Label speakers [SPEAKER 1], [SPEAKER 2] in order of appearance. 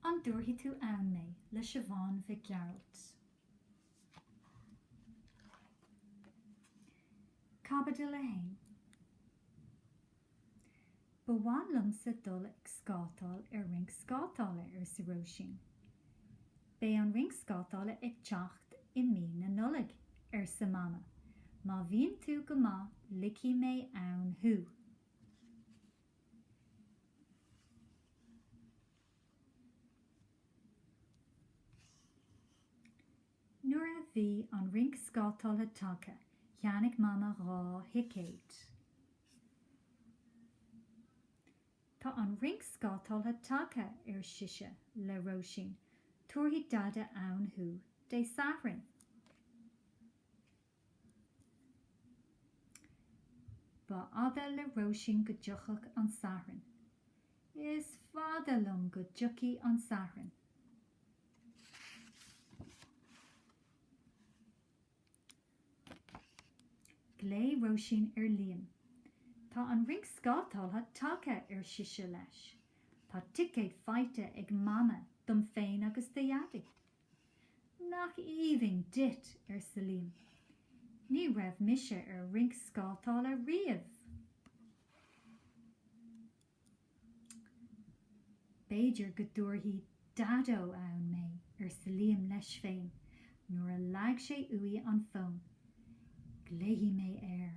[SPEAKER 1] An dtabharfaidh tú ann mé? le Siobhán Mhic Gearailt. Caibidil 1. Ba mhaith liomsa dul ag scátáil ar rinc scátála, arsa Róisín. Beidh an rinc scátála ag teacht i mí na Nollag, arsa Mama. Má bhíonn tú go maith ligfidh mé ann thú. Nuair a bhí an rinc scátála tagtha, cheannaigh Mama dhá thicéad. Tá an rinc scátála tagtha, ar sise le Róisín. Tabharfaidh Dada ann thú Dé Sathairn. Ba fhada le Róisín go dtiochfadh an Satharn. Is fada liom go dtiocfaidh an Satharn. Ghlaoigh Róisín ar Liam. Tá an rinc scátála tagtha, ar sise leis. Tá ticéad faighte ag Mama dom féin agus do Dhaidí. Nach aoibhinn duit, arsa Liam. Ní raibh mise ar rinc scátála riamh. B'fhéidir go dtabharfadh Daideo ann mé, arsa Liam leis féin nuair a leag sé uaidh an fón. Glaofaidh mé air.